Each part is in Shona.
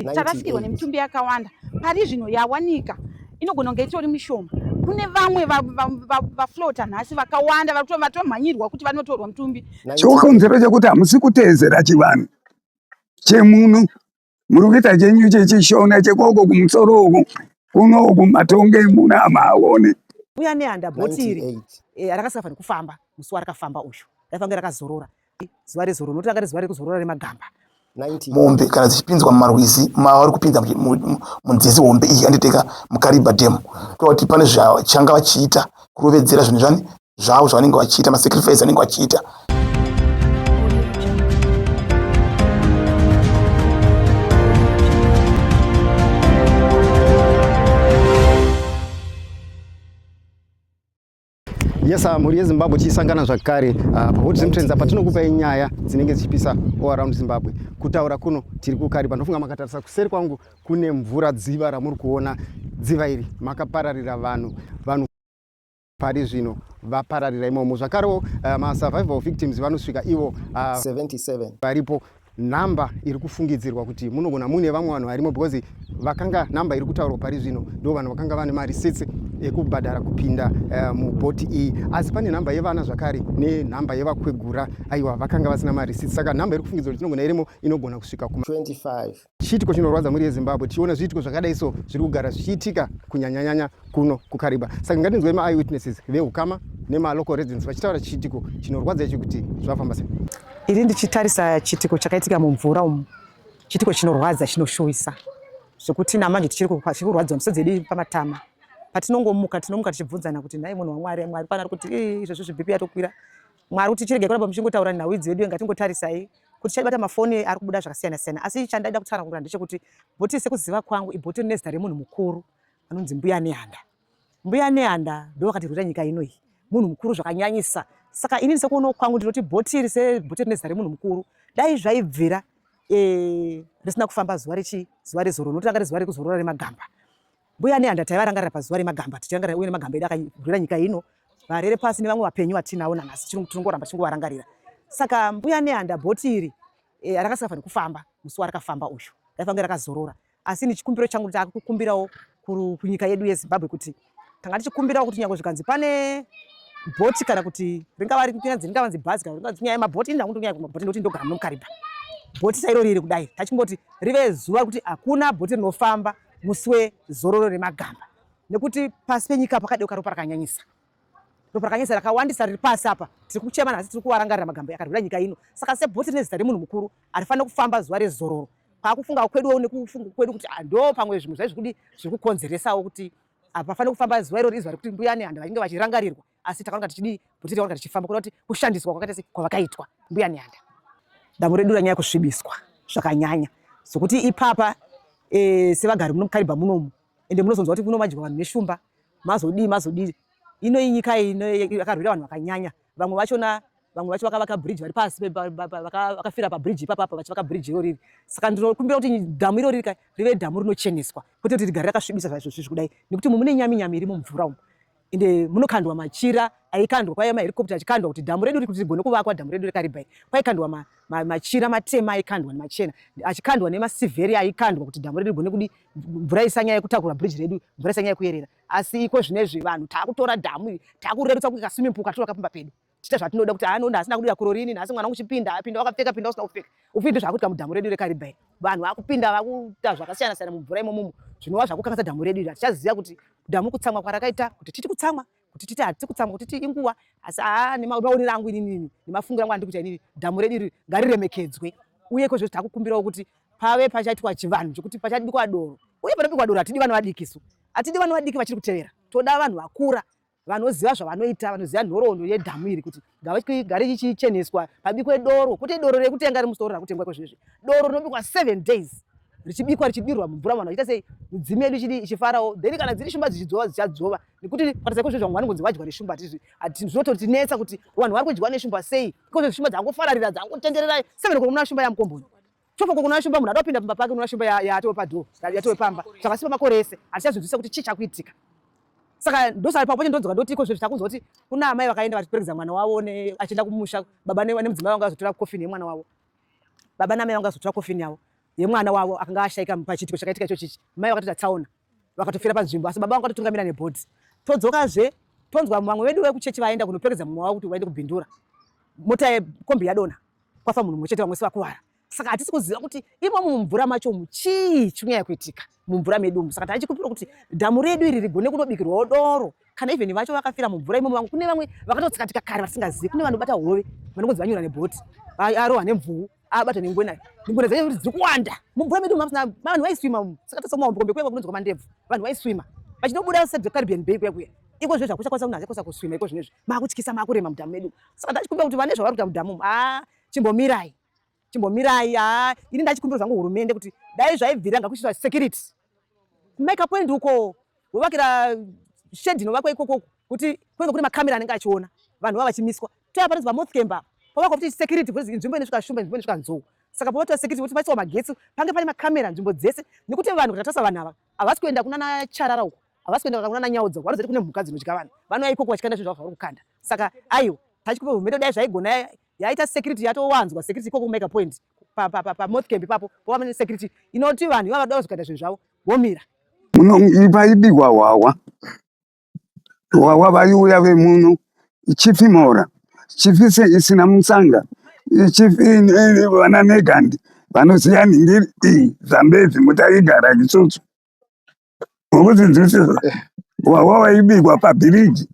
tarasikirwa nemitumbi yakawanda pari zvino yawanika inogona kunge itori mishoma kune vamwe vaflota nhasi vakawanda vatomhanyirwa kuti vanotorwa mutumbi chokonzero chekuti hamusi kuteedzera chivanhu chemuno muri kuita chenyu chechishona chekoko kumusoro uku kunoku matonge muno amaaone uya nehanda bhoti iri eh, rakasika fani kufamba musi warakafamba uyu raifange rakazorora zuva rezororo nokuti ranga rezuva rekuzorora remagamba mombe kana dzichipinzwa mumarwizi mava vari kupinza munzizi hombe iyi yanditeka mukariba dam kuva kuti pane zvachanga vachiita kurovedzera zvinhu zvani zvavo zvavanenge vachiita masacrifice anenge vachiita yes ah, mhuri yezimbabwe tichisangana zvakare ah, pahot zimtrends apa tinokupai nyaya dzinenge dzichipisa all around zimbabwe kutaura kuno tiri kukari panofunga makatarisa kuseri kwangu kune mvura dziva ramuri kuona dziva iri makapararira vanhu vanhu pari zvino vapararira imomo zvakarewo ah, masurvival victims vanosvika ivo 77 varipo number iri kufungidzirwa kuti munogona muine vamwe vanhu varimo because vakanga number iri kutaurwa pari zvino ndo vanhu vakanga vane marisitsi ekubhadhara kupinda uh, mubhoti iyi asi pane number yevana zvakare nenumber yevakwegura aiwa vakanga vasina marisitsi saka number iri kufungidzirwa kuti tinogona irimo inogona kusvika kuma 25 chiitiko chinorwadza mhuri yezimbabwe tichiona zviitiko zvakadai so zviri kugara zvichiitika kunyanyanyanya kuno kukariba saka ngatinzwei maeye witnesses veukama nemalocal residents vachitaura chiitiko chinorwadza ichi kuti zvafamba sei Iri ndichitarisa chitiko chakaitika mumvura umu, chitiko chinorwadza chinoshuwisa zvekuti namanje tichiri kurwadziwa misodzi yedu pamatama patinongomuka tinomuka tichibvunzana kuti nhai munhu wamwari mwari pana ari kuti izvezvi zvibhipi yatokwira mwari kuti chirege kuramba muchingotaura nhau idzi vedu ngatingotarisai kuti chaibata mafoni ari kubuda zvakasiyana siyana asi chandaida kutsanangura ndechekuti bhoti sekuziva kwangu ibhoti rine zita remunhu mukuru anonzi mbuya nehanda Mbuya Nehanda ndovakatirwira nyika ino iyi, munhu mukuru zvakanyanyisa. Saka inini sekuonawo kwangu ndinoti bhoti iri sebhoti rine zita remunhu mukuru, dai zvaibvira eh, risina kufamba zuva rechi zuva rezororo nokuti ranga rezuva rekuzorora remagamba. Mbuya Nehanda taivarangarira pazuva remagamba, tichirangarira uye nemagamba edu akarwira nyika ino, varere pasi nevamwe vapenyu vatinawo nanhasi tinongoramba tichingovarangarira. Saka Mbuya Nehanda bhoti iri eh, rakasingafaniri kufamba musi warakafamba uyu, raifange rakazorora. asi ini chikumbiro changu nditaka kukumbirawo kunyika yedu yezimbabwe kuti tanga tichikumbirawo kuti nyangwe zvikanzi pane bhoti kana kuti ringava rikunyanzi ringavanzi bhazi kana ringavanzi nyaya yemabhoti ini ndakundinyaya kumabhoti ndokuti ndogara nomukariba bhoti sairo riri kudai tachingoti rive zuva kuti hakuna bhoti rinofamba musi wezororo remagamba nekuti pasi penyika pakadeuka ropa rakanyanyisa ropa rakanyesa rakawandisa riri pasi apa tiri kuchemana asi tiri kuvarangarira magambo yakarwira nyika ino saka sebhoti rine zita remunhu mukuru harifanire kufamba zuva rezororo kwakufungawo kweduwo nekufunga kwedu kuti ah, ndo pamwe zvimwe zvai zvekudi zviri kukonzeresawo kuti hapafanire ah, kufamba zuva irori izuva rekuti mbuya nehanda vainge vachirangarirwa asi takanonga tichidii bhoti takanonga tichifamba kuda kuti kushandiswa kwakaita sei kwavakaitwa mbuya nehanda dambo redu ranyaya kusvibiswa zvakanyanya zvokuti ipapa eh, sevagari muno mukariba munomu ende munozonzwa kuti kunomadyiwa vanhu neshumba mazodii mazodii ino inyika yakarwira vanhu vakanyanya vamwe vachona vamwe vacho vakavaka bridge vari pasi vakafira pabridge ipapa apa vachivaka bridge iro riri saka ndinokumbira kuti dhamu iro riri ka rive dhamu rinocheneswa kwete kuti rigare rakasvibisa zvaizvo zvizvi kudai nekuti mune nyami nyami iri mumvura umu ende munokandwa machira aikandwa kwaiva maherikopta achikandwa kuti dhamu redu rikuti rigone kuvakwa dhamu redu rekaribai kwaikandwa ma, ma, machira matema aikandwa nemachena achikandwa nemasivheri aikandwa kuti dhamu redu rigone kudi mvura isanyaya yekutakura bridge redu mvura isanyaya yekuyerera asi iko zvinezvi vanhu takutora dhamu iri takurerutsa kuti kaswimming pool katora kapamba pedu tichita zvatinoda kuti haa nonda asina kudira kurorini nhasi mwana uchipinda apinda wakapfeka pinda usina kupfeka ufidi zvakuitika mudhamu redu rekariba iri vanhu vakupinda vakuita zvakasiyana siyana mumvura imomumu zvinova zvakukanganisa dhamu redu iri hatichaziva kuti dhamu kutsamwa kwarakaita kuti titi kutsamwa kuti titi hatisi kutsamwa kuti ti inguva asi haa nemaonero angu inini nemafungira angu andikuita inini dhamu redu iri ngariremekedzwe uye kwezvo takukumbirawo kuti pave pachaitwa chivanhu chekuti pachadikwa doro uye panobikwa doro hatidi vanhu vadikisu hatidi vanhu vadiki vachiri kutevera toda vanhu vakura vanoziva zvavanoita vanoziva nhoroondo yedhamu iri kuti gare chichicheneswa pabikwe doro kwete doro rekutenga remusoro rakutengwa kwezvezvi doro rinobikwa seven days richibikwa richidirwa mumvura vanhu vachiita sei midzimu yedu chidi ichifarawo then kana dziri shumba dzichidzova dzichadzova nekuti kukatisa kwezvezvi vamwe vanongonzi vadyiwa neshumba hatizvi zvinototinetsa kuti vanhu vari kudyiwa neshumba sei ikozvezvi shumba dzangofararira dzangotenderera seven kuri muna shumba yamukomboni Chofo uko kunoya shumba munhu ada kupinda pamba pake unoya shumba yatowe padoor yatowe pamba zvakasipa makore ese hatichazvinzwisisa kuti chii chakuitika saka ndosaka ipapo pacho ndonzwa ndoti iko zve zvichakunzwa kuti kuna amai vakaenda vachiperekedza mwana wavo achienda kumusha baba nemudzimai vanga vazotora kofini yemwana wavo baba namai vanga vazotora kofini yavo yemwana wavo akanga ashaika pachiitiko chakaitika icho chichi mai vakatoita tsaona vakatofira panzvimbo asi baba vanga vatotungamira nebhodhi todzokazve tonzwa vamwe vedu vekuchechi vaenda kunoperekedza mumwe wavo kuti vaende kubhindura mota yekombi yadona kwafa munhu mumwe chete vamwe sivakuvara saka hatisi kuziva kuti imomo mumvura macho umu chii chinyaya kuitika mumvura medu umu saka taichikumbira kuti dhamu redu iri rigone kunobikirwawo doro kana even vacho vakafira mumvura imomo vamwe kune vamwe vakatotsikatika kare vasingazivi kune vanobata hove vanongonzi vanyura nebhoti arohwa nemvuu abata nengwena ngwena dzacho kuti dziri kuwanda mumvura medu umu vanhu vaiswima umu saka tasomaombokombe kuya kwakunonzwa mandebvu vanhu vaiswima vachinobuda sedzecaribbean bay kuya kuya iko zve zvakuchakwanisa kunhu achakosa kuswima iko zvinezvi makutyisa makurema mudhamu medu saka ndachikumbira kuti vane zvavari kuita mudhamu umu haa chimbomirai chimbomirai haa ini ndachikumbira zvangu hurumende kuti dai zvaibvira ngakuchiitwa security kumike point uko wovakira shedhi inovakwa ikokoko kuti kunenge kune makamera anenge achiona vanhu vava vachimiswa toya panonzi pamothcamber pavakwa kuti security kuti nzvimbo inosvika shumba nzvimbo inosvika nzou saka pavatiwa security kuti paiswa magetsi pange pane makamera nzvimbo dzese nekuti vanhu kuti atasa vanhu ava havasi kuenda kunana charara uko havasi kuenda kunana nyaudzo vanozoita kune mhuka dzinodya vanhu vanouya ikoko vachikanda zvinhu zvavo zvavari kukanda saka aiwa tachikupa mheto dai zvaigona yaita security yatowanzwa security ikoko kumeka point pamoth camp ipapo pova security inoti vanhu ivava dova zvikaita zvinhu zvavo vomira paibigwa hwahwa hwahwa vaiuya vemuno chifi mora chifi isina musanga vana negandi vanoziva nhingi iyi zambezi mutaigara isusu ukudzidzisisa wawa waibikwa pabhiriji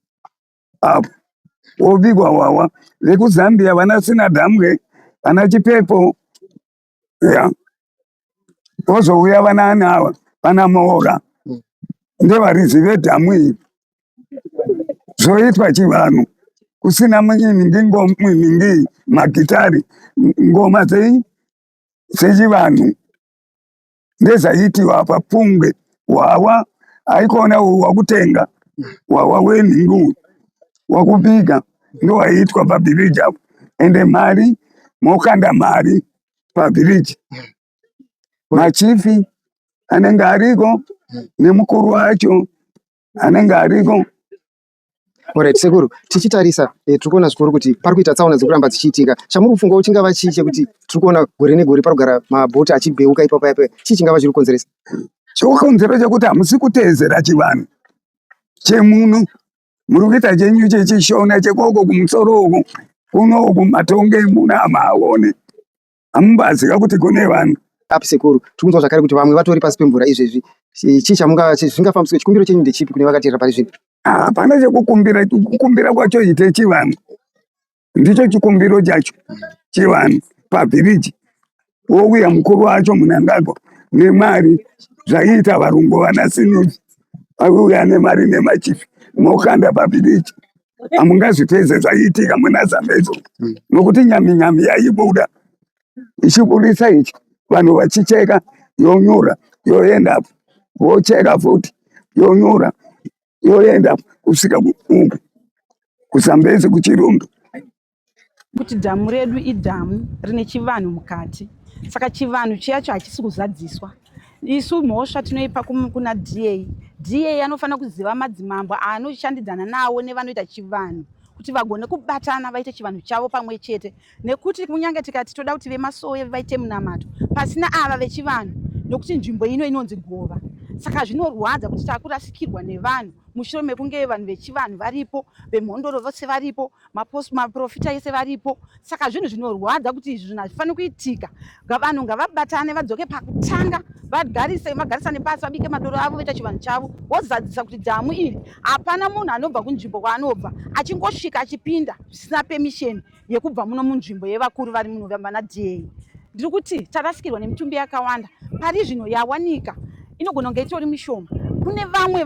apo wobikwa wawa vekuzambia vana sina dhamwe vana chipepo ya vozouya vana ani ava vana moora ndevarizive dhamu iri zvoitwa chivanhu kusina muningi ngomuningi magitari ngoma dzechivanhu ndezvaiti vapa pungwe hwawa aikona wakutenga hwawa wenhingu wakubika ndowaitwa pabhiriji apo ende mari mokanda mari pabhiriji machifi anenge ariko nemukuru wacho anenge ariko Alright sekuru, tichitarisa eh, tiri kuona zvikuru kuti pari kuita tsaona dziri kuramba dzichiitika. Chamuri kufungawo chingava chii chekuti tiri kuona gore negore pari kugara mabhoti achibheuka ipapo ipapo, chii chingava chiri kukonzeresa? Chokonzero chekuti hamusi kuteedzera chivanhu chemuno, muri kuita chenyu chechishona chekoko kumusoro uku kuno uku matonge muno hamaaone. hamubazi ka kuti kune vanhu api sekuru tiri kunzwa zvakare kuti vamwe vatori pasi pemvura izvezvi chii chamungazvingafambiswe chikumbiro chenyu ndechipi kune vakateera pari zvino hapana chekukumbira kukumbira kwacho ite chivanhu ndicho chikumbiro chacho chivanhu pabhiriji wouya mukuru wacho munangagwa nemari zvaiita varungu vana sinuzi auya nemari nemachifi mokanda pabhiriji hamungazvipedze zvaiitika muna zambedzo hmm. nokuti nyami nyami yaibuda ichiburitsa ichi vanhu vachicheka yonyura yoenda apo vocheka futi yonyura yoenda apo kusvika kuuku kuzambezi kuchirundu kuti dhamu redu idhamu rine chivanhu mukati saka chivanhu chiyacho hachisi kuzadziswa isu mhosva tinoipa kuna da da anofanira kuziva madzimambo aanoshandidzana nawo nevanoita chivanhu kuti vagone kubatana vaite chivanhu chavo pamwe chete nekuti kunyange tikati toda kuti vemasowe vaite munamato pasina ava vechivanhu nokuti nzvimbo ino inonzi gova saka zvinorwadza kuti takurasikirwa nevanhu mushure mekunge vanhu vechivanhu varipo vemhondoro vose varipo maprofita ese varipo saka zvinhu zvinorwadza kuti izvi zvinhu hazvifaniri kuitika vanhu ngavabatane vadzoke pakutanga vagarise vagarisane pasi vabike madoro avo voita chivanhu chavo vozadzisa kuti dhamu iri hapana munhu anobva kunzvimbo kwaanobva achingosvika achipinda zvisina pemisheni yekubva muno munzvimbo yevakuru vari muno vana dai ndiri kuti tarasikirwa nemitumbi yakawanda pari zvino yawanika inogona kunge itori mishoma kune vamwe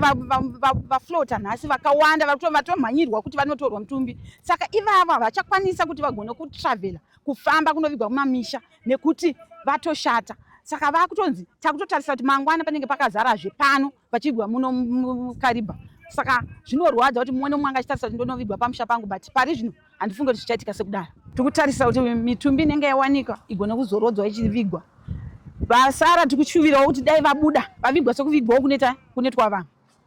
vaflota nhasi vakawanda vatomhanyirwa kuti vanotorwa mutumbi saka ivavo havachakwanisa kuti vagone kutravela kufamba kunovigwa kumamisha nekuti vatoshata saka vakutonzi takutotarisa kuti mangwana panenge pakazarazve pano vachigwa muno mukariba saka zvinorwadza kuti mumwe nomwe anga achitarisa kuti ndonovigwa pamusha pangu but pari zvino handifunge kuti zvichaitika sekudaro tiri kutarisa kuti mitumbi inenge yawanikwa igone kuzorodzwa ichivigwa vasara tiri kushuvirawo kuti dai vabuda vavigwa sekuvigwawo kuneta kunetwa vanhu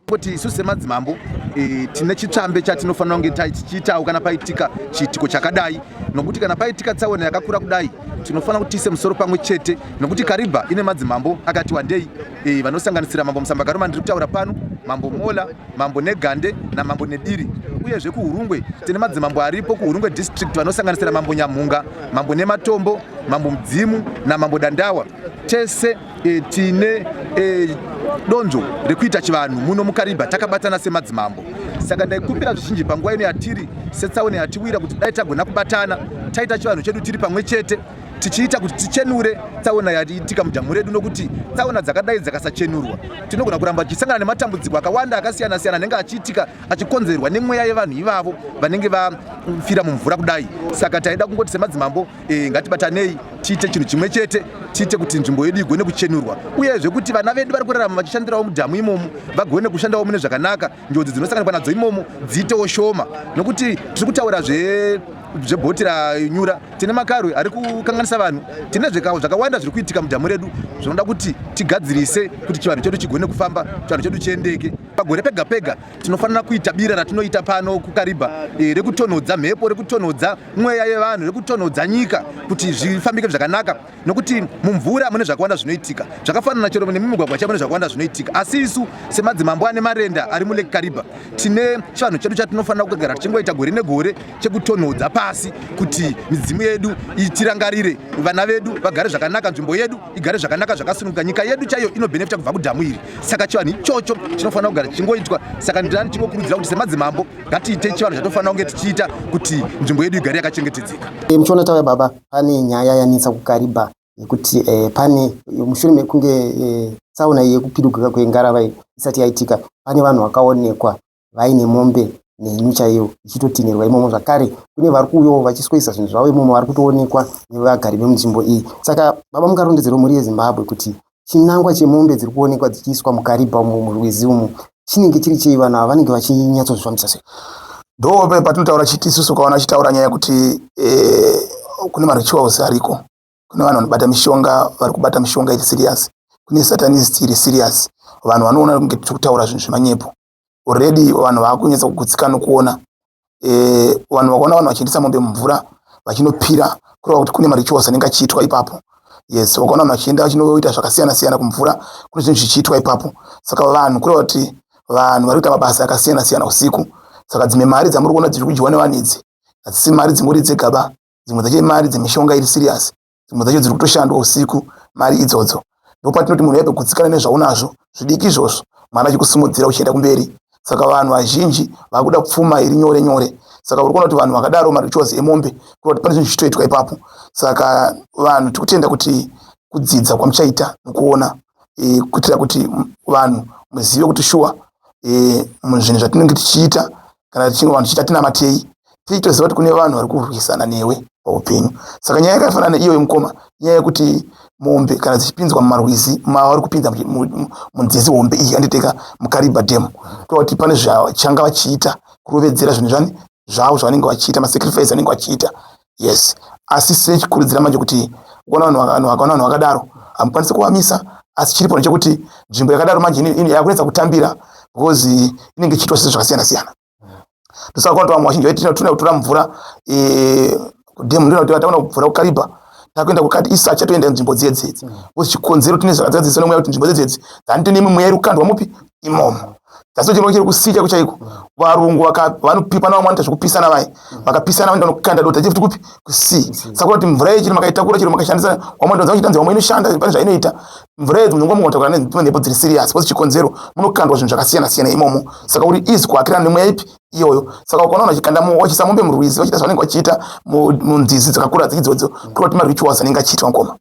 kuti isu semadzimambo e, tine chitsvambe chatinofanira kunge tichiitawo kana paitika chiitiko chakadai nokuti kana paitika tsaona yakakura kudai tinofanira kuti tiise musoro pamwe chete nokuti kariba ine madzimambo akati wandei e, vanosanganisira mambo musambagaroma ndiri kutaura pano mambo mola mambo negande namambo nediri uyezve kuhurungwe tine madzimambo aripo kuhurungwe district vanosanganisira mambo nyamhunga mambo nematombo mambo mudzimu namambo dandawa tese e, tine e, donzvo rekuita chivanhu muno mukariba takabatana semadzimambo saka ndaikumbira zvizhinji panguva ino yatiri setsaone yatiwira kuti dai tagona kubatana taita chivanhu chedu tiri pamwe chete tichiita kuti tichenure tsaona yaiitika mudhamu redu nokuti tsaona dzakadai dzakasachenurwa tinogona kuramba tichisangana nematambudziko akawanda akasiyana siyana anenge achiitika achikonzerwa nemweya yevanhu ivavo vanenge vafira mumvura kudai saka taida kungoti semadzimambo e, ngatibatanei tiite chinhu chimwe chete tiite kuti nzvimbo yedu igone kuchenurwa uyezve kuti vana vedu vari kurarama vachishandirawo mudhamu imomo vagone kushandawo mune zvakanaka njodzi dzinosanganikwa nadzo imomo dziitewo shoma nokuti tiri kutaura zve zvebhoti ranyura tine makarwe ari kukanganisa vanhu tine zvikawo zvakawanda zviri kuitika mudhamu redu zvinoda kuti tigadzirise kuti chivanhu chedu chigone kufamba chivanhu chedu chiendeke pagore pega pega tinofanira kuita bira ratinoita pano kukaribha eh, rekutonhodza mhepo rekutonhodza mweya yevanhu rekutonhodza nyika kuti zvifambike zvakanaka nokuti mumvura mune zvakawanda zvinoitika zvakafanana chero nemumigwagwa chaivo nezvakawanda zvinoitika asi isu semadzimambo ane marenda ari mulake kariba tine chivanhu chedu chatinofanira kugara tichingoita gore negore chekutonhodza pasi kuti midzimu yedu itirangarire vana vedu vagare zvakanaka nzvimbo yedu igare zvakanaka zvakasununguka nyika yedu chaiyo inobenefita kubva kudhamu iri saka chivanhu ichocho chinofanira kugara chichingoitwa saka ndidani chingokurudzira kuti semadzimambo ngatiite chivanhu chatinofanira kunge tichiita kuti nzvimbo yedu igare yakachengetedzeka muchionatauya baba pane nyaya yanetsa kuKariba yekuti eh, pane mushure mekunge eh, tsaona yekupirigwika kwengarava isati yaitika pane vanhu vakaonekwa vaine mombe nenyu chaiyo ichitotinhirwa imomo zvakare kune vari kuuyawo vachisweyisa zvinhu zvavo imomo vari kutoonekwa nevagari vemunzvimbo iyi saka baba mukarondedzerwa mhuri yezimbabwe kuti chinangwa chemombe dziri kuonekwa dzichiiswa mukaribha umu murwizi umu chinenge chiri chei vanhu ava vanenge vachinyatsozvifambisa sei ndo patinotaura chiti isusu ukaona achitaura nyaya yekuti eh, kune marituals ariko kune vanhu vanobata mishonga vari kubata mishonga iri serious kune satanist iri serious vanhu vanoona kunge tiri kutaura zvinhu zvemanyepo already vanhu vakunyatsa kugutsika nokuona eh, vanhu vakaona vanhu vachiendesa mombe mumvura vachinopira kureva kuti kune marichos anenge achiitwa ipapo yes vakaona vanhu vachienda vachinoita zvakasiyana siyana kumvura kune zvinhu zvichiitwa ipapo saka vanhu kureva kuti vanhu vari kuita mabasa akasiyana siyana usiku saka dzimwe mari dzamuri kuona dziri kudyiwa nevanhu idzi hadzisi mari dzingori dzegaba dzimwe dzacho imari dzemishonga iri serious dzimwe dzacho dziri kutoshandwa usiku mari idzodzo ndopatinoti munhu yaipe kutsikana nezvaunazvo zvidiki izvozvo mwana achikusimudzira uchienda kumberi saka vanhu vazhinji vakuda pfuma iri nyore nyore saka uri kuona kuti vanhu vakadaro marichozi emombe kuona kuti pane zvinhu zvichitoitwa ipapo saka vanhu tiri kutenda kuti kudzidza kwamuchaita nokuona e, kuitira kuti vanhu muzive kuti shuwa e, zvinhu zvatinenge tichiita kana tichinge vanhu tichiita tinamatei tichitoziva kuti kune vanhu vari kurwisana newe paupenyu saka nyaya yakafanana neiyoyo mukoma nyaya yekuti mombe kana dzichipinzwa mumarwizi mavari kupinza munzizi hombe iyi anditeka mukariba dam kuva kuti pane zvachanga vachiita kurovedzera zvinhu zvani zvavo zvavanenge vachiita masacrifice anenge vachiita yes asi sechikurudzira manje kuti ukaona vanhu vaka- vanhu vakaona vanhu vakadaro hamukwanisi kuvamisa asi chiripo ndechekuti nzvimbo yakadaro manje ine- ine- yakunetsa kutambira because eh, inenge ichiitwa zvinhu zvakasiyana siyana ndosaka kwakuti vamwe vazhinji vaiti tinoda kutora mvura eh, kudhemu ndona kuti taona mvura kukariba takuenda kukati isacha toenda nzvimbo dziye dzedzi because chikonzero tine zvakadzadziswa nemweya kuti nzvimbo dzedzedzi dzanite nemwe mweya iri kukandwa mupi imomo That's not chirongero kusika kuchaiko. Varungu vaka vanopipa na vamwanta zvekupisana vaye. Vakapisana vanoenda nokukanda dota chifti kupi? Kusi. Saka kuti mvura yechi makaitakura chero makashandisa vamwe ndonza kuchitanzi vamwe inoshanda pane zvainoita. Mvura yedu ndongo mota kana ndipo dziri serious. What's chikonzero? Munokandwa zvinhu zvakasiyana siyana imomo. Saka uri easy kuakira nemweya ipi? iyoyo saka ukaona vachikanda vachisa mombe murwizi vachiita zvavanenge vachiita munzizi dzakakura dzidzodzo kuto kuti marituals anenge achiitwa mukoma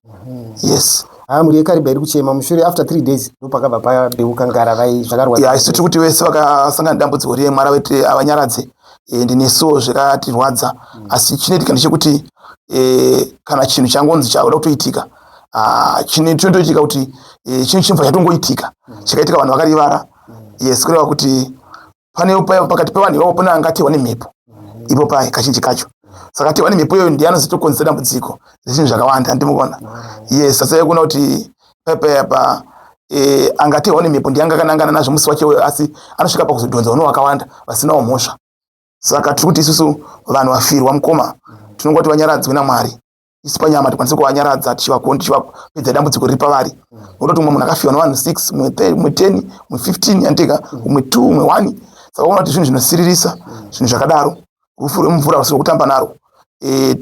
yes ah, mhuri yekariba iri kuchema mushure after three days ndopakabva padeuka ngara vai zvakarwadza isu tiri kuti vese vakasangana dambudziko riye mwari vati avanyaradze eh, ndinesuwo zvakatirwadza mm. asi chinoitika ndechekuti eh, kana chinhu changonzi chauda kutoitika ah, chinotoitika kuti eh, chinhu chinobva chatongoitika mm. chakaitika vanhu vakarivara mm. yes kureva kuti pane payo pakati pevanhu ivavo pane angatewa nemhepo ipo paye kazhinji kacho saka tewa nemhepo iyoyo ndiye anozotokonzera dambudziko zvinhu zvakawanda andimukona yes asi yekuona kuti pepayapa eh, angatewa nemhepo ndiye angakanangana nazvo musi wacho uyo asi anosvika pakuzodhonza uno wakawanda vasinawo mhosva saka tiri kuti isusu vanhu vafirwa mukoma tinonga kuti vanyaradzwe namwari isu panyama tikwanise kuvanyaradza tichivakoni tichivapedza dambudziko riri pavari nototi umwe munhu akafiwa nevanhu six umwe umwe ten umwe fifteen yandika umwe two umwe one saka uona kuti zvinhu zvinosiririsa zvinhu zvakadaro rufu rwemumvura rusiri kutamba naro e,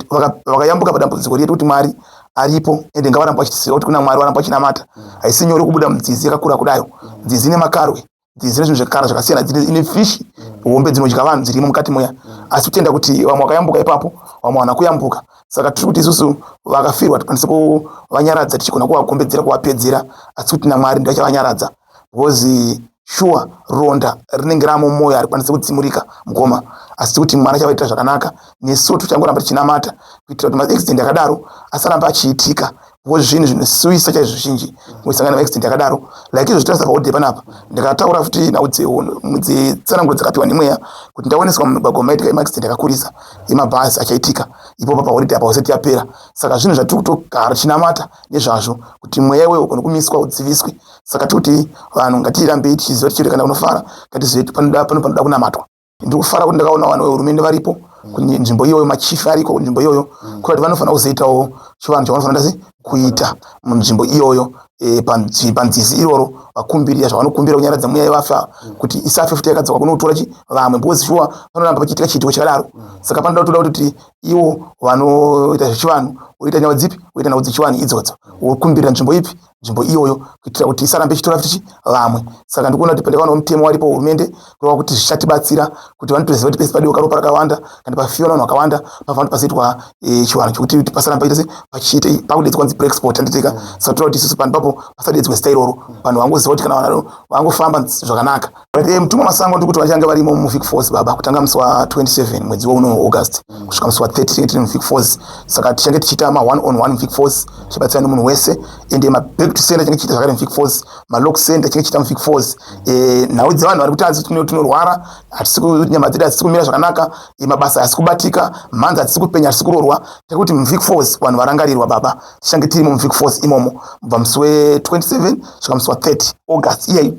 vakayambuka padambudziko riye tikuti mwari aripo ende ngavaramba vachitiziva kuti kuna mwari varamba vachinamata haisi nyore kubuda mudzizi yakakura kudayo nzizi nemakaro dzine zvinhu zvekara zvakasiyana dzine ine fish hombe dzinodya vanhu dzirimo mukati moya asi kutenda kuti vamwe vakayambuka ipapo vamwe vana kuyambuka saka tiri kuti isusu vakafirwa tikwanise kuvanyaradza tichigona kuvakombedzera kuvapedzera asi kuti namwari ndivachavanyaradza because shuwa ronda rinenge ramo mwoyo harikwanise kutsimurika mukoma asi tiri kuti mwana chavaitira zvakanaka nesu tichangoramba tichinamata kuitira kuti maaccident akadaro asaramba achiitika ko zvinhu zvinosuwisa chaizvo zvizhinji musangano maaccident yakadaro like izvo zvitaurisa paode panapa ndikataura futi nhau dzetsananguro dzakapiwa nemweya kuti ndaoneswa mumigwagwa maitika emaaccident akakurisa emabhazi achaitika ipopa paholiday apa hosati yapera saka zvinhu zvatiri kutogara tichinamata nezvazvo kuti mweya iwewo kana kumiswa udziviswe saka tikuti vanhu ngatirambei tichiziva tichirekana kunofara ngatizive panopanoda kunamatwa ndiri kufara kuti ndakaona vanhu vehurumende varipo kunzvimbo iyoyo machifi ariko kunzvimbo iyoyo mm. kuti vanofanira kuzoitawo chivanhu chavanofanira sei kuita munzvimbo iyoyo eh, panzizi iroro vakumbirira zvavanokumbira kunyaradza mweya yevafa mm. kuti isafe futi yakadzaka kunotora chi vamwe because shuwa panoramba pachiitika chiitiko chakadaro mm. saka panoda kutoda kuti iwo vanoita zvechivanhu woita nyawa dzipi woita nhau dzechivanhu idzodzo wokumbirira nzvimbo ipi nzvimbo iyoyo kuitira kuti isarambe ichitora futi vamwe saka ndikuona kuti pandakaona mutemo waripo hurumende kureva kuti zvichatibatsira kuti vanotoziva kuti pese padiwa karopa rakawanda kana pafiwa vanhu vakawanda pafanira pazoitwa eh, chivanhu chokuti kuti pasaramba itose pachiita pakudedzwa kunzi preexport handiteka saka toda kuti isusu panhu papo pasadedzwa zita iroro vanhu vangoziva kuti kana vanhu vangofamba zvakanaka Eh, mtumwa masango ndikuti vachange varimo muvic force baba kutanga musi wa 27 mwedzi wouno august kusvika musi wa 30 tiri muvic force saka tichange tichiita ma one on one vic force tichibatsira nemunhu wese ende maback to center tinge tichiita zvakare muvic force malock center tinge tichiita muvic force eh, nhau dzevanhu vari kuti azi tinorwara hatisi nyama dzedu hadzisi kumira zvakanaka eh, mabasa hasi kubatika mhanzi hadzisi kupenya hatisi kurorwa tiri kuti muvic force vanhu varangarirwa baba tichange tirimo muvic force imomo mubva musi we 27 svika musi wa 30 august iyeyi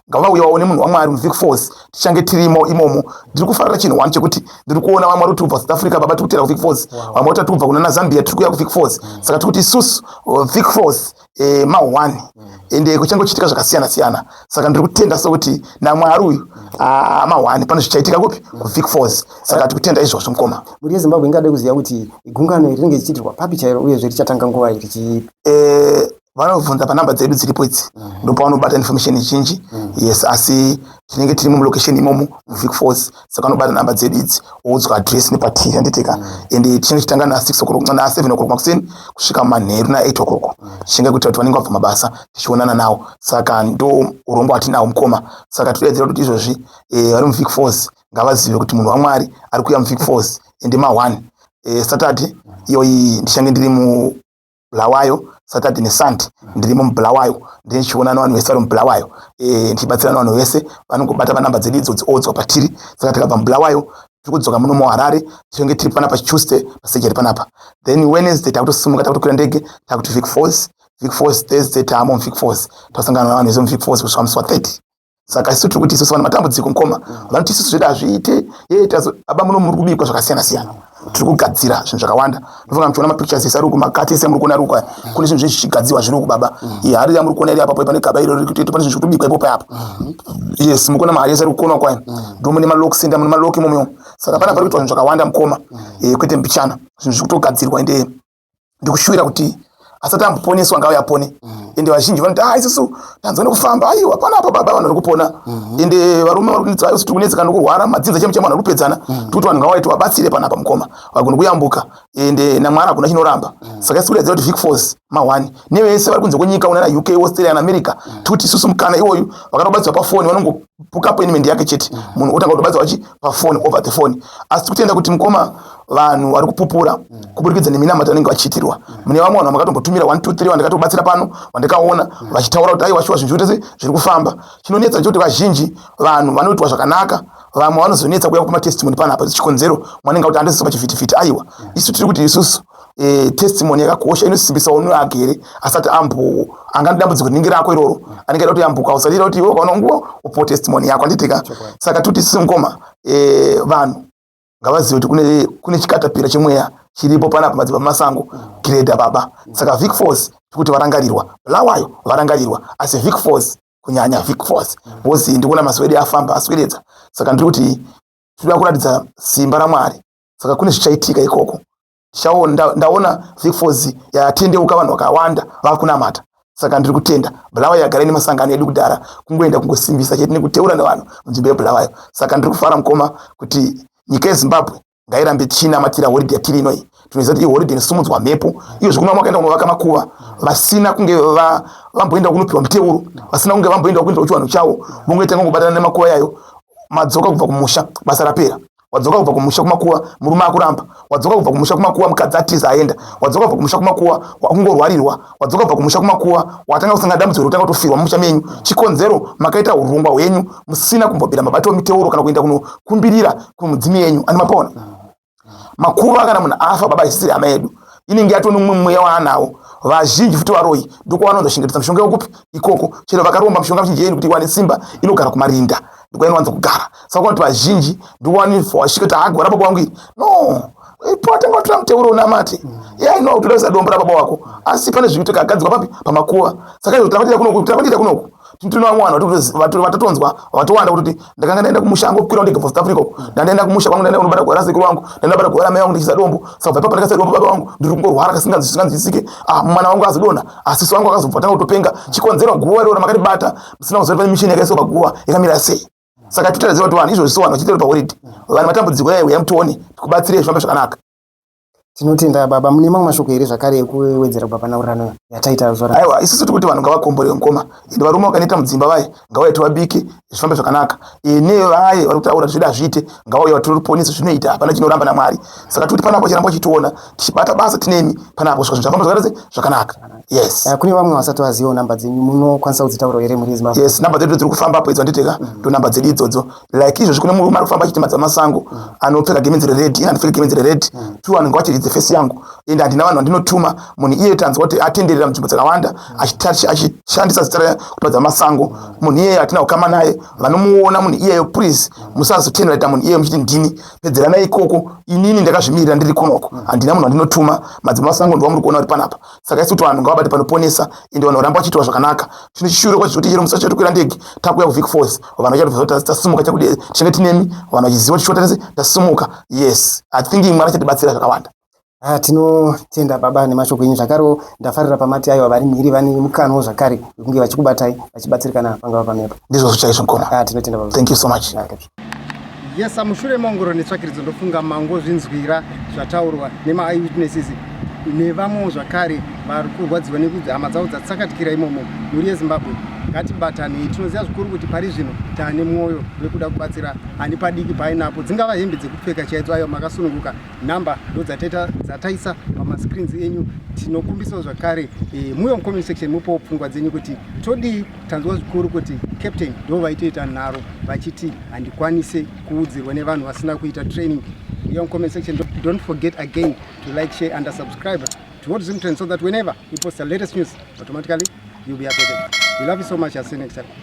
ngavauye vaone munhu wamwari muvic falls tichange tirimo imomo ndiri kufarira chinhu one chekuti ndiri kuona vamwe vari kutibva south africa baba tiri kutera kuvic falls vamwe vati tatibva kuna nazambia tiri kuya kuvic falls mm. saka tiri kuti isusu uh, vic falls eh, mahwani mm. ende kuchange kuchiitika zvakasiyana siyana saka ndiri kutenda sokuti namwari uyu mm. ah, mahwani pane zvichaitika kupi kuvic falls saka tiri kutenda izvozvo mukoma mhuri yezimbabwe ingade kuziva kuti gungano iri rinenge richiitirwa papi chairo uyezve richatanga nguva iri chiipi eh, vanobvunza panumber dzedu dziripo idzi mm. ndopavanobata information zhinji mm. yes asi tinenge tiri mulocation imomo muvic force saka vanobata number dzedu idzi oudzwa address nepatiri handiteka mm. and tichinge tichitanga na6 o'clock na7 o'clock makuseni kusvika manheru na8 o'clock tichinge kuitira kuti vanenge vabva mabasa tichionana nawo saka ndo urombo hatinawo mukoma saka todedzera kuti izvozvi eh, vari muvic force ngavazive kuti munhu wamwari ari kuuya muvic force ende ma1 eh, saturday iyoyi ndichange ndiri mu Bulawayo Saturday neSunday ndirimo muBulawayo ndine chiona nevanhu vese vari muBulawayo eh, ndichibatsirana vanhu vese vanongobata panamba dzedu idzo dziodzwa patiri saka tikabva muBulawayo tiri kudzoka muno muharare tinenge tiri panapa tuesday pasejeri panapa then wednesday takutosimuka takutokwira ndege takuti vic force vic force thursday taamo muvic force tasangana navanhu vese muvic force kusvika musi wa 30 saka isu tiri kuti isusu vana matambudziko mukoma vanoti isusu zvedu hazviite ee aba muno muri kubikwa zvakasiyana siyana tiri kugadzira zvinhu zvakawanda ndofunga muchiona mapictures ese ari uku makati ese amuri kuona ari uku aya kune zvinhu zvezvichigadzirwa zviri uku baba ihari yamuri kuona iri apapo pane gaba iro riri kutoita pane zvinhu zviri kutobikwa ipo payapa yes mukuona mahari ese ari kukonwa kwayo ndo mune malok senda mune malok imomo saka panapa ari kuitwa zvinhu zvakawanda mukoma eh, kwete mbichana zvinhu zviri kutogadzirwa ende ndikushuwira kuti asati amboponeswa ngawe apone mm. ende vazhinji vanoti a ah, isusu tanzwa nekufamba aiwa pana apa baba vanhu vari kupona mm-hmm. ende varume vari kunetsa isusu tiri kunetseka nokurwara madzinza chemu chemu vanhu vari kupedzana mm. tikuti vanhu ngawai tivabatsire pana apa mukoma vagoni kuyambuka ende namwari hakuna chinoramba mm. saka isusu kuratidza kuti vic force mahwani nevese vari kunze kwenyika unana uk australia naamerica tikuti isusu mukana iwoyu vakatobatsirwa pafoni vanongo appointment yake chete mm. munhu otanga kutobatsirwa chi pafoni over the phone asi tikutenda kuti mukoma vanhu vari kupupura mm. kuburikidza neminamato vanenge vachiitirwa mm. mune vamwe vanhu vamakatombotumira 123 vandikatobatsira pano vandikaona vachitaura kuti aiwa shuwa zvinhu zvitese zviri kufamba chinonetsa ndechekuti vazhinji vanhu vanoitwa zvakanaka vamwe vanozonetsa kuya kupa matestimony panapa chikonzero mwanenge kuti andisisa pachivhitivhiti aiwa isu tiri kuti isusu e, testimony yakakosha inosimbisa unhu wake here asati ambo anga nedambudziko rinenge rako iroro anenge aida kuti yambuka usadira kuti iwe ukaona nguva upo testimony yako anditika saka toti sisi mukoma e, vanhu ngavazive kuti kune, kune chikatapira chemweya chiripo panapa madzimba masango greda baba saka vic force tikuti varangarirwa lawayo varangarirwa asi vic force kunyanya vic force bcoz ndikuona mazuva edu afamba asweredza saka ndiri kuti tinoda kuratidza simba ramwari saka kune zvichaitika ikoko shawo ndaona vicfos yatendeuka vanhu vakawanda vava kunamata saka ndiri kutenda bulawayo yagara ine masangano edu kudhara kungoenda kungosimbisa chete nekuteura nevanhu munzvimbo yebulawayo saka ndiri kufara mukoma kuti nyika yezimbabwe ngairambe tichinamatira horidhe yatiri inoyi tinoziva kuti ihoridhe inosumudzwa mhepo iyo zvekuma makaenda kunovaka makuva vasina kunge vamboenda kunopiwa muteuro vasina kunge vamboenda kuinda kuchivanhu chavo vongoita ngongobatana nemakuva yayo madzoka kubva kumusha basa rapera wadzoka kubva kumusha kumakuwa murume akuramba wadzoka kubva kumusha kumakuwa mukadzi atiza aenda wadzoka kubva kumusha kumakuwa wakungorwarirwa wadzoka kubva kumusha kumakuwa watanga kusanga dambudziko rotanga kutofirwa mumusha menyu chikonzero makaita urongwa hwenyu musina kumbobvira mabato miteuro kana kuenda kunokumbirira kumudzimi yenyu ani mapona makuva kana munhu afa baba isisiri hama yedu inenge yatone umwe mweya waanawo vazhinji futi varoyi ndokwavanonzoshingiritsa mishonga yokupi ikoko chero vakaromba mishonga mizhinji yenyu kuti iwane simba inogara kumarinda ndikwainowanza kugara saka kuti vazhinji ndiwanifowashika kuti hagora baba wangu iri no ipota ngotora muteuro unamate ya ino utoda kusadombora baba wako asi pane zviri kutoka agadzikwa papi pamakuva saka izvo tinakuita kunoku tinakuita kunoku tinowa mwana vatotonzwa vatowanda kuti ndakanga ndaenda kumusha angu kukwira ndege for south africa uku ndandaenda kumusha kwangu ndaenda kunobata gwara sekuru wangu ndaenda bata gwara mai wangu ndichiza dombo saka bva ipapo ndakasaira baba wangu ndiri kungorwara kasinganzwisisike ah mwana wangu azidona asisi wangu akazobva tanga kutopenga chikonzero guva iroro makatibata sina kuzori pane mishini yakaiswa paguva yakamira sei saka titaraziva kuti vanhu izvozvi sowanhu vachitori pahoridhi vanhu matambudziko yaya huya mutione tikubatsire zvifambe zvakanaka tinotenda baba mune mamwe mashoko here zvakare ekuwedzera kubva panaurirano yataita zora aiwa isusu tiri kuti vanhu ngavakomborere mukoma ende varume vakaneta mudzimba vaye ngavaiti vabike zvifambe zvakanaka ene vaye vari kutaura zvida zviite ngavauya vatiri ruponeso zvinoita hapana chinoramba namwari saka tikuti panapa chiramba uchitiona tichibata basa tinemi pana apo zvinhu zvafamba zvakaratse zvakanaka yes uh, kune vamwe vasati vazivawo namba dzenyu munokwanisa kudzitaura here muri zimbabwe yes namba dzedu dziri kufamba apo idzo anditeka mm. ndo namba dzedu idzodzo like izvozvi kune murume ari kufamba achiti madza masango mm. anopfeka gemenzi rered ini andipfeke gemenzi rered mm. two anenge wachiridze fesi yangu ende handina vanhu vandinotuma munhu iye tanzwa kuti atenderera munzvimbo dzakawanda achishandisa zita raya kuti madza masango munhu iyeyo hatina kukama naye vanomuona munhu iyeyo please musazotenderera munhu iyeyo muchiti ndini pedzerana ikoko inini ndakazvimirira ndiri kunoko mm. handina munhu andinotuma madzimba masango ndiwa muri kuona uri panapa saka isi kuti vanhu ngavabate panoponesa ende vanhu varamba vachiitwa zvakanaka chino chishure kwacho zvoti chero musi wacho tokwira ndege takuya kuvic force vanhu vachatoa tasimuka chakuti tichange tinemi vanhu vachiziva tichiwa tese tasimuka yes i think mwari achatibatsira zvakawanda Ah, tinotenda baba nemashoko enyu zvakarewo ndafarira pamati aiwa vari mhiri vane mukano zvakare wekunge vachikubatai vachibatsirikana pangava pamepo ndizvozvo chaizvo mkoma ah, tinotenda baba thank you so much ah, yes amushure maongoro netsvakiridzo ndofunga mango zvinzwira zvataurwa nemaeye witnesses nevamwewo zvakare vari kurwadziwa nekuti hama dzavo dzatsakatikira imomo mhuri yezimbabwe ngatibatanei tinoziva zvikuru kuti pari zvino taane mwoyo wekuda kubatsira ani padiki painapo dzingava hembe dzekupfeka chaidzo ayo makasununguka number ndodzataita dzataisa pamascreens enyu tinokumbisawo zvakare e, muuye mucomment section mupowo pfungwa dzenyu kuti todii tanzwa zvikuru kuti captain ndo vaitoita nharo vachiti handikwanise kuudzirwa nevanhu vasina kuita training uye mucomment section don't forget again to like share and subscribe to what zimtrend so that whenever we post the latest news automatically you'll be updated we love you so much i'll see you next time